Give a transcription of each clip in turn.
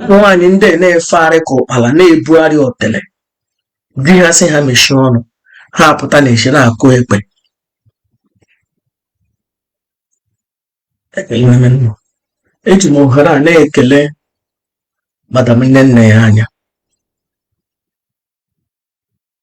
nwaanyị ndị a na-efegharị ka ụkpala na-ebugharị otele di ha sị ha mechie ọnụ ha apụta na eche na-akụ ekpe eji m ohere a na-ekele madam nnennaya anya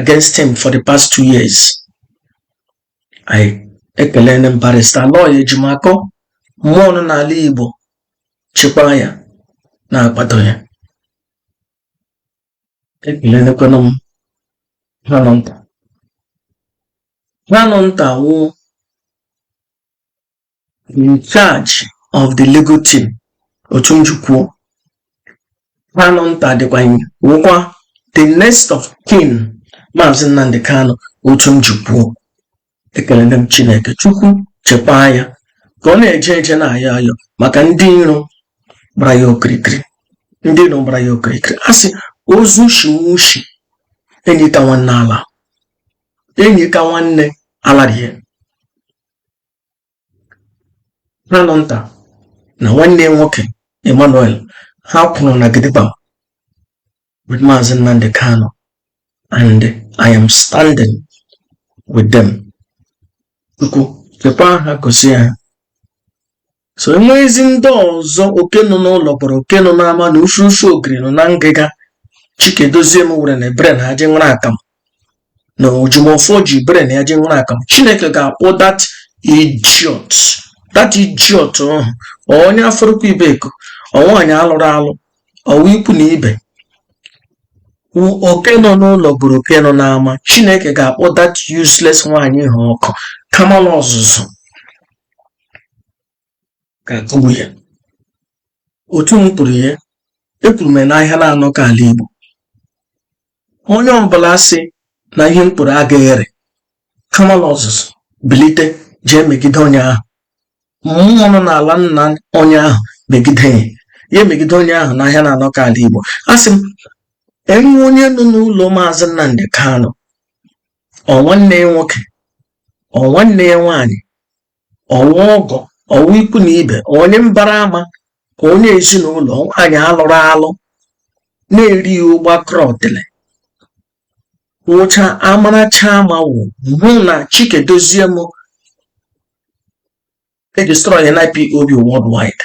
against him for the past two years I ekelene m barista aloy ejimakọ mmụọ nọ n'ala igbo chekwaa ya na-akwado ya ekelekwana m kanunta kanunta wụ in charge of the legal team otu m ji kwuo kanunta dịkwa wụkwa the next of kin maazị nnamdị kanu otu m ji kwuo ekelene m chineke chukwu chekwaa ya ka ọ na-eje eje na-ayọ ayọ maka ndị iro gbara ya okirikiri ndị iro gbara ya okirikiri a sị ozu shiwe ushi enyi ka nwanne alaa enyi ka nwanne ala rie Kanunta na nwanne ya nwoke Emmanuel ha kwụrụ na gidigba with Maazị Nnamdi Kanu and I am standing with them. Chukwu chekwaa ha gọzie ha so enweghịzi ndị ọzọ oke nọ n'ụlọ kpọrọ oke nọ n'ama na ufu ufu ogiri nọ na ngịga Chika Edoziem were na ebere na aje nwere akamụ na ojimọfọ ji bere na ya ji nwụrụ aka chineke ga-akpọ that idiot that idiot ọkụ ọ onye afaraukwu ibeku ọ nwaanyị alụrụ alụ ọ wụ ikwu na ibe oke nọ n'ụlọ bụrụ oke nọ n'ama chineke ga-akpọ that useless nwaanyị ahụ ọkụ kamalụ ọzụzụ ga-akụgbu ya otu m kwuru ya ekwuru m n'ahịa na-anọ ka ala Igbo onye ọbụla sị na ihe m kwuru agaghị ere kamalụ ọzụzụ bilite jee megide onye ahụ mmụọ nọ n'ala nna onye ahụ megide ya ya emegide onye ahụ n'ahịa na-anọ ka ala Igbo a sị m enwe onye nọ n'ụlọ maazị Nnamdi Kanu ọ nwanne ya nwoke ọ nwanne ya nwaanyị ọ wụ ọgọ ọ wụ ikwu na ibe onye mbara ama ọ onye ezinụlọ ọ nwaanyị alụrụ alụ na-eri ụgba kọrọ otele nwụcha amaracha ma wụ hụ na chika edoziem edestroy na ipob worldwide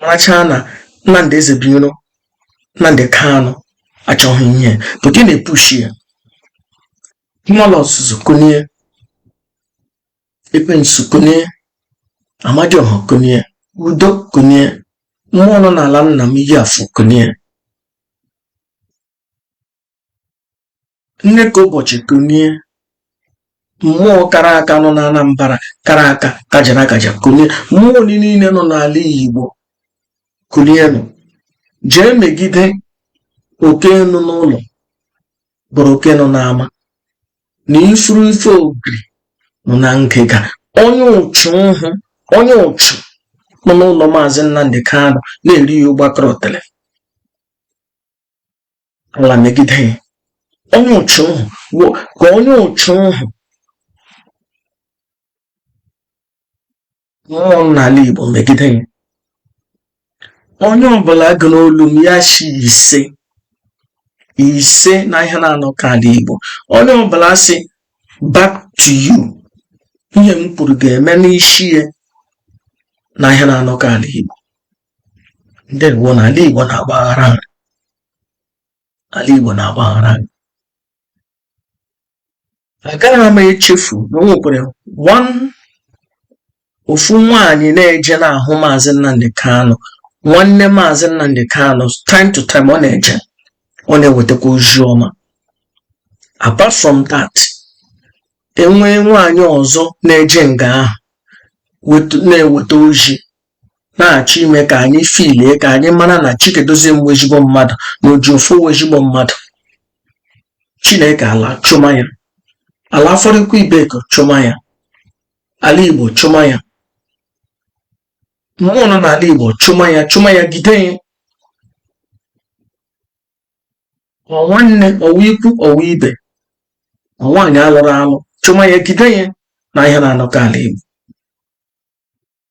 marachaa na Nnamdi Ezebiro Nnamdi Kanu achọghị ihe pụta ị na-epushi ya Kamalu Ozuzu kunie Ekwensu kunie Amadioha kunie Udo kunie mmụọ nọ n'ala nna m iyi afọ kunie nne ka ụbọchị kunie mmụọ kara aka nọ na Anambra kara aka kajara akaja kunie mmụọ niile nọ n'ala Igbo kunienụ jee megide oke nọ n'ụlọ bụrụ oke nọ n'ama na ifuru ife ogiri nọ na ngịga onye ụchụ ahụ onye ụchụ nọ n'ụlọ maazị Nnamdi Kanu na-eri ya ụgbakọrọ tele ala megide ya onye ụchụ ahụ ka onye ụchụ ahụ mmụọ n'ala Igbo megide ya onye ọbụla ga-anụ olu m ya shi ise ise na ihe na-anọ ka ala Igbo onye ọbụla sị back to you ihe m kwuru ga-eme n'isi ya na ihe na-anọ ka ala Igbo ndewo na ala Igbo na-agbaghara ala Igbo na-agbaghara agaghị m echefu na o nwekwara ofu nwaanyị na-eje na-ahụ maazị Nnamdi Kanu nwanne maazị Nnamdi Kanu time to time ọ na-eje ọ na-ewetakwa ozi ọma apart from that enwee nwaanyị ọzọ na-eje nga ahụ na-eweta ozi na-achọ ime ka anyị filie ka anyị mara na Chika Edoziem wụ ezigbo mmadụ na Ejiofor wụ ezigbo mmadụ Chineke ala chụma ya ala Afaraukwu Ibeku chụma ya ala Igbo chụma ya mmụọ nọ n'ala Igbo chụma ya chụma ya gide ya ọ nwanne ọwa ikwu ọwa ibe ọ nwaanyị alụrụ alụ chụma ya gide ya na ihe na-anọkọ ala Igbo